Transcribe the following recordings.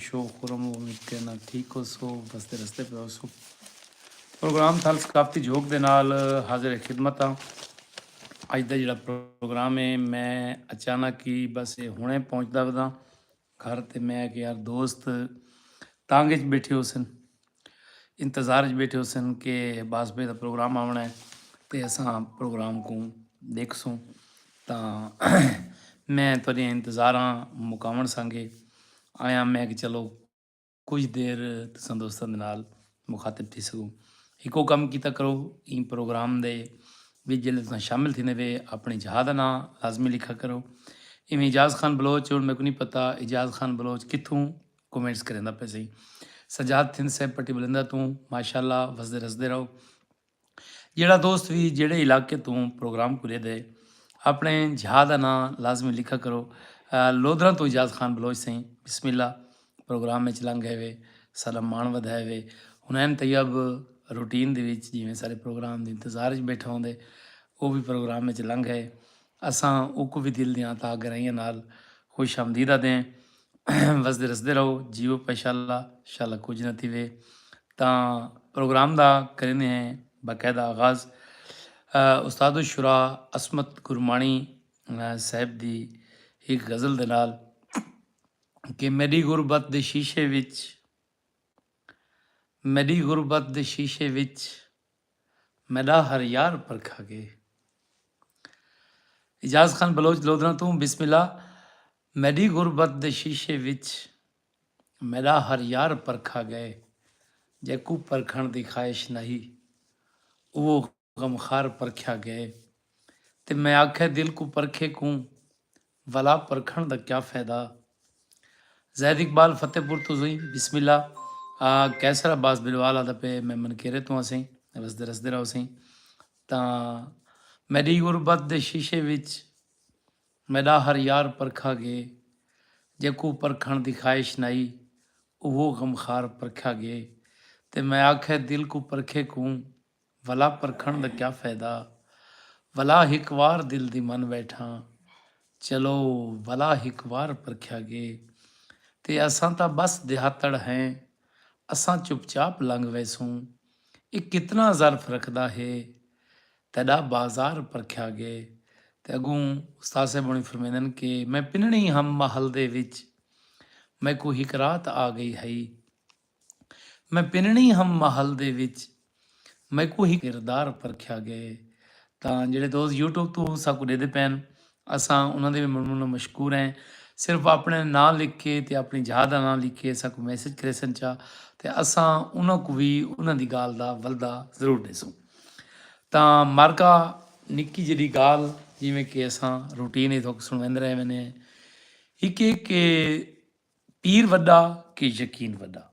Show خرم و مٹے نہ ٹھیک ہوسو بس دے رستے پہ ہوسو پروگرام تھال ثقافتی جھوک دے نال حاضر خدمت ہاں اج دا جڑا پروگرام ہے میں اچانک ہی بس یہ ہنے پہنچدا وداں گھر تے میں کہ یار دوست تانگ وچ بیٹھے ہوسن انتظار اچ بیٹھے ہوسن کہ باس بھائی دا پروگرام آونا ہے تے اساں پروگرام کوں ڈیکھسوں تاں میں تہاڈیاں انتظاراں مکاون سانگے آیا میں کہ چلو کچھ دیر تساں دوستاں دے نال مخاطب تھی سکوں ہکو کم کیتا کرو این پروگرام دے وچ جلے تساں شامل تھینے وے اپنی جہاں دا نام لازمی لکھا کرو ایویں اجاز خان بلوچ ہن میں کو نہیں پتہ اجاز خان بلوچ کتھوں کومنٹس کریندا پے سئیں سجاد تھند صاحب پٹی بلندہ توں ماشاءاللہ وسدے رسدے رہو جیڑا دوست وی جیڑے علاقے توں پروگرام کو ویدے اپنے جھا دا نام لازمی لکھا کرو لودراں تو اجاز خان بلوچ سئیں بسم اللہ پروگرام وچ لنگ ہے وے سارا مان ودھائے وے ہنین طیب روٹین دے وچ جویں سارے پروگرام دے انتظار وچ بیٹھا ہوندے او بھی پروگرام وچ لنگ ہے اساں اوکوں وی دل دیاں تہا گہرائیاں نال خوش آمدید آدھیں۔ وسدے رسدے رہو جیو پشالا شالا کجھ نہ تھیوے تاں پروگرام دا کریندے ہیں باقاعدہ آغاز استاد الشرا عصمت گرمانی صاحب دی ہک غزل دے نال کہ میڈی غربت دے شیشے وچ میڈی غربت دے شیشے وچ میݙا ہر یار پرکھا گے۔ اعجاز خان بلوچ لودھراں توں بسم اللہ میݙی غربت دے شیشے وچ میݙا ہر یار پرکھا گئے جیکوں پرکھݨ دی خواہش نہ ہی اوہو غمخوار پرکھیا گئے تے میں آکھے دل کوں پرکھے کوں ولا پرکھݨ دا کیا فیدہ۔ زید اقبال فتح پور توں سئیں بسم اللہ قیصر عباس بلوال آدا پے میں منکیرے توں ہاں سئیں رسدے رسدے رہو سئیں تاں میڈی غربت دے شیشے وچ میڈا ہر یار پرکھا گے جیکوں پرکھݨ دی خواہش نائی اوہو غمخار پرکھیا گے تے میں آکھے دل کوں پرکھے کوں ولا پرکھݨ دا کیا فیدہ ولا ہک وار دل دی من ٻیٹھاں چلو ولا ہک وار پرکھیا ڳے تے اساں تاں ٻس دیہاتڑ ہیں اساں چپ چاپ لنگھ ویسوں اے کتنا ظرف رکھدا ہے تیݙا بازار پرکھیا ڳے تے اڳوں استاد صاحب ہوݨی فرمیندن کہ میں پنݨی ہم محل دے وچ میکوں ہک رات آ ڳئی ہئی میں پنڑی ہم محل دے وچ میکوں ہک کردار پرکھیا گئے تاں جیڑھے دوست یوٹیوب توں ساکوں ڈیدے پین اساں انہاں دے وی من منوں مشکور ہیں صرف اپنے ناں لکھ کے تے اپنی جھا دا ناں لکھ کے ساکوں میسج کریسن چا تے اساں انہاں کوں وی انہاں دی گال دا ولدا ضرور ڈیسوں تاں مارکا نکی جڑی گال جویں کہ اساں روٹین ہی تھوک سنویند رہے وینے ہک ایک کہ پیر وݙا کہ یقین وݙا۔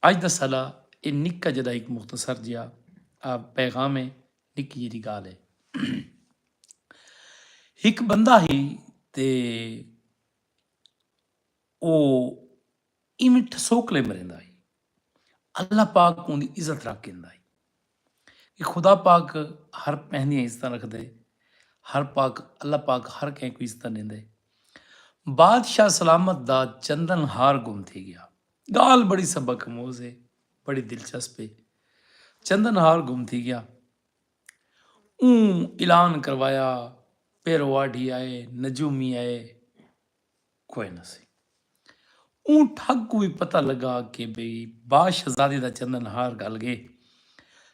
اڄ دا سلا اے نکا جݙا ہک مختصر جیہا پیغام اے نکی جیہی ڳالھ اے۔ ہک بندہ ہی تے او ایویں ٹھسوکلے مریندا ہی۔ اللہ پاک کوں دی عزت رکھ کیندا ہے کہ خدا پاک ہر پہنی عزت رکھ دے ہر پاک اللہ پاک ہر کہیں کو عزت دین دے بادشاہ سلامت دا چندن ہار گم تھی گیا گال بڑی سبق موز ہے بڑی دلچسپ ہے چندن ہار گم تھی گیا اون اعلان کروایا پیرواڑی آئے نجومی آئے کوئے نہ سی۔ اوں ٹھگ کوں وی پتہ لگا کہ بھئی با شہزادی دا چندن ہار گھل گئے۔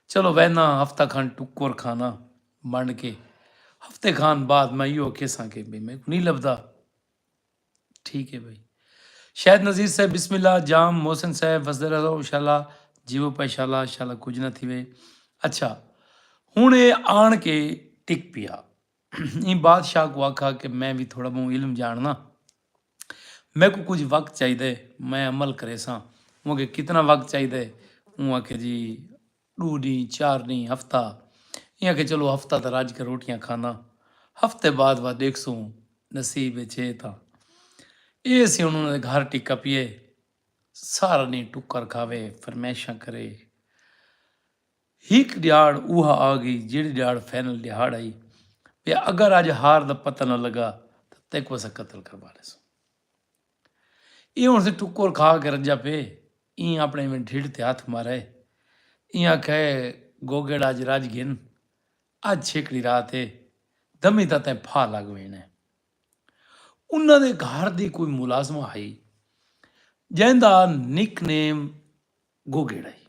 چلو وینداں ہفتہ کھن ٹکر کھاناں منڈ کے۔ ہفتے کھان بعد میں ایہو اکھیساں کہ بھئی میکوں نی لبھدا۔ ٹھیک اے بھئی۔ شاہد نذیر صاحب بسم اللہ جام محسن صاحب وسدے رہو شالا جیوو پئے شالا شالا کجھ نہ تھیوے۔ اچھا ہن اے آن کے ٹک پیا۔ ایں بادشاہ کوں آکھا کہ میں وی تھوڑا بہوں علم جانڑناں۔ میکوں کجھ وقت چاہیدے میں عمل کریساں۔ اوں آکھیا کتنا وقت چاہیدے؟ اوں آکھیا جی ڈو ڈینھ چار ڈینھ ہفتہ۔ ایں آکھیا چلو ہفتہ تاں رج کے روٹیاں کھاناں ہفتے بعد وا ڈیکھسوں نصیب اچ ہے تاں۔ اے اسی ہن انہاں دے گھر ٹکا پیئے سارا ڈینھ ٹکر کھاوے فرمائشاں کرے۔ ہک ڈیہاڑ اوہا آ گئی جیڑھی ڈیہاڑ فائنل ڈیہاڑ ہئی پیا اگر اج ہار دا پتہ نہ لگا تاں تیکوں اساں قتل کروا ڈیسوں ایہ ہن سے ٹکور کھا کے رجا پے ایں اپنے ایویں ڈھڈ تے ہتھ مارے ایں آکھے گوگڑ اج رج گھن اج چھیکڑی رات اے دمی تاں تیں پھا لگ وینے انہاں دے گھر دی کوئی ملازمہ ہئی جیندا نک نیم گوگڑ ہئی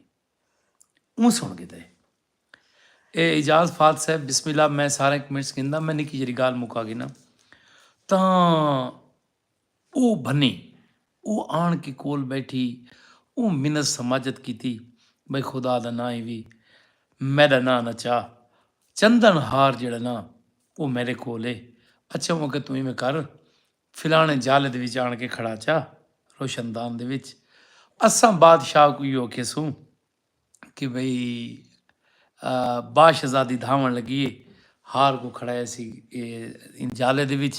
اوں سن گھدے۔ اے اعجاز فات صاحب بسم اللہ میں سارے کمنٹس گھندا میں نکی جڑی گال مکا گھنا تاں او بھنی او آن کے کول بیٹھی او منت سماجت کیتی بھئی خدا دا ناں ہی وی میڈا ناں نہ چا چندن ہار جڑا نہ او میرے کول اے اچھا اوں کہ تو ایویں کر فلاݨے جھل دے وچ آݨ کے کھڑا چا، روشن دان دے وچ، اساں بادشاہ کوں ایہو کھیسوں کہ بھئی باشزادی دھاوݨ لڳی اے، ہار کوں کھڑا ایسی ایں جھل دے وچ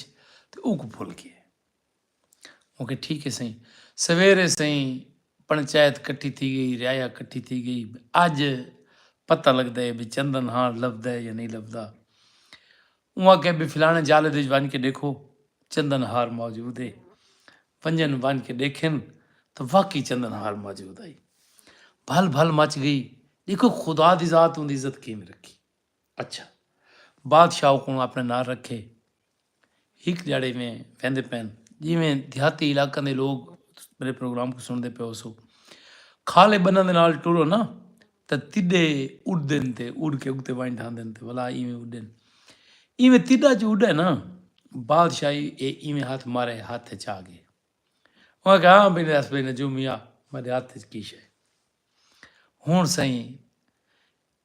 تے اونکوں بھل ڳیا اے۔ اونکھے ٹھیک اے سئیں۔ سویرے سئیں پنچایت کٹھی تھی ڳئی، رعایا کٹھی تھی ڳئی، اڄ پتہ لڳدا اے بھئی چندن ہاݨ لبھدا اے یا نئیں لبھدا۔ اوں آکھیا بی فلانے جالد اچ ونج کے ڈیکھو چندن ہار موجود اے۔ ونجن ونج کے ڈیکھن تاں واقعی چندن ہار موجود ہئی۔ بھل بھل مچ گئی ڈیکھو خدا دی ذات اوندی عزت کیویں رکھی۔ اچھا بادشاہ اوکوں اپنے نال رکھے۔ ہک ڈیہاڑے ایویں ویندے پین جیویں دیہاتی علاقاں دے لوگ میرے پروگرام کوں سنڑدے پیو سو۔ کھالے بناں دے نال ٹرو نا۔ تے تݙے اݙدن تے اݙ کے اڳتے ونڄ ڈھاندن تے ولا ایویں اݙن ایویں تݙا جو اݙا ہے نا بادشاہی اے ایویں ہتھ مارے ہتھ اچ آ ڳئے اوں آکھیا ہاں بھئی ݙس بھئی نجوم میاں میݙے ہتھ اچ کی شے ہݨ سئیں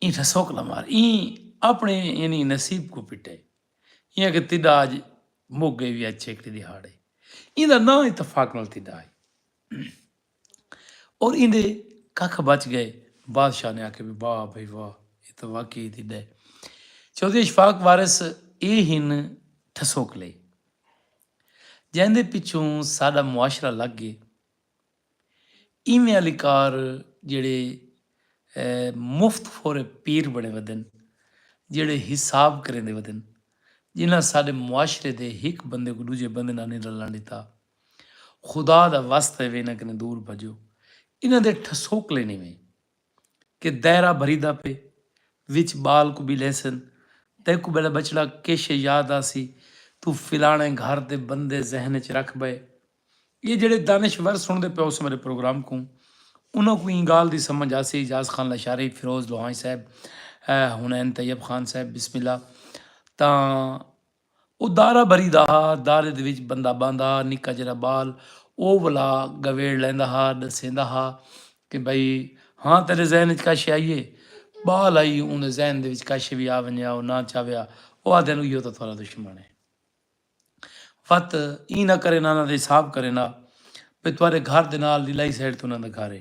ایں ٹھسوکلا مار ایں اپݨے یعنی نصیب کوں پٹے ایں آکھیا تݙا اڄ مک ڳئے وی اچ ہکڑی ݙیہاڑ اے ایندا ناں اتفاق نال تݙا ہئی اور ایندے ککھ بچ گئے۔ بادشاہ نے آکھیا وی واہ بھئی واہ اے تاں واقعی دی ڈے۔ چوہدری اشفاق وارث اے ہن ٹھسوکلے جیندے پچھوں ساڈا معاشرہ لگ گئے۔ ایویں آلی کار جیڑھے مفت خورے پیر بنے ودن جیڑھے حساب کریندے ودن جنہاں ساڈے معاشرے دے ہک بندے کوں ڈوجھے بندے نال نی رلن ڈتا۔ خدا دا وست ہے وے انہاں کنیں دور بھجو۔ انہاں دے ٹھسوکلے نیں ویں کہ دائرہ بھریدا پے وچ بال کوں بی لیسن تیکوں بیلے بچڑا کیشے یاد آسی توں فلانے گھر دے بندے ذہن اچ رکھ بئے۔ ایہ جیڑھے دانشور سنڑدے پے ہوسن میڈے پروگرام کوں انہاں کوں ایں گال دی سمجھ آسی اعجاز خان لاشاری، فیروز لوہانج صاحب، حنین طیب خان صاحب بسم اللہ تاں او دارا بھری دا ہا، دارے دے وچ بندہ بہندا ہا، نکا جیرھا بال او ولا گویڑ لیندا ہا، ڈسیندا ہا کہ بھئی ہاں تیرے ذہن وچ کا شے آئی اے؟ بال آئی اوندے ذہن دے وچ کا شے وی آ ونجے ہا او نہ چاویا او آہدے ہن اوہیو تاں تہاڈا دشمن اے۔ وت ایں نہ کرینا انہاں دا حساب کرینا بھئی تہاڈے گھر دے نال دی لائی سائیڈ تے انہاں دا گھر اے۔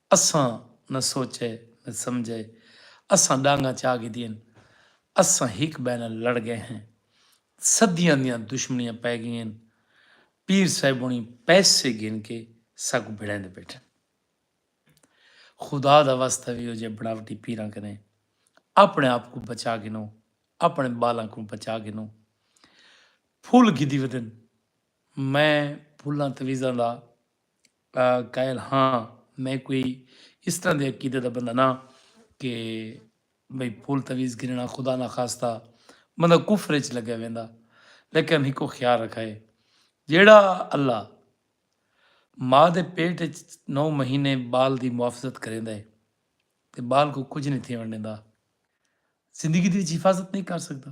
اساں نہ سوچئے نہ سمجھئے اساں ڈانگاں چا گھدین اساں ہک بئے نال لڑ گئے ہیں صدیاں دیاں دشمنیاں پئے گئین پیر صاحبنی پیسے گھن کے ساکوں بھڑیندے بیٹھن خدا دا واسطہ وی او جئے بناوٹی پیراں کنے اپنے آپ کوں بچا گھنو اپنے بالاں کوں بچا گھنو پھل گھدی ودن میں پھلاں تویزاں دا قائل ہاں میں کوئی اس طرح دے عقیدے دا بندہ نہ کہ بھئی پھول تویز گھننا خدا نہ خواستہ بندہ کفر اچ لگے ویندا لیکن ہکو خیال رکھائے جیڑا اللہ ماں دے پیٹ اچ نو مہینے بال دی محافظت کریندا ہے تے بال کو کچھ نہیں تھیون ڈیندا زندگی دی وچ حفاظت نہیں کر سکدا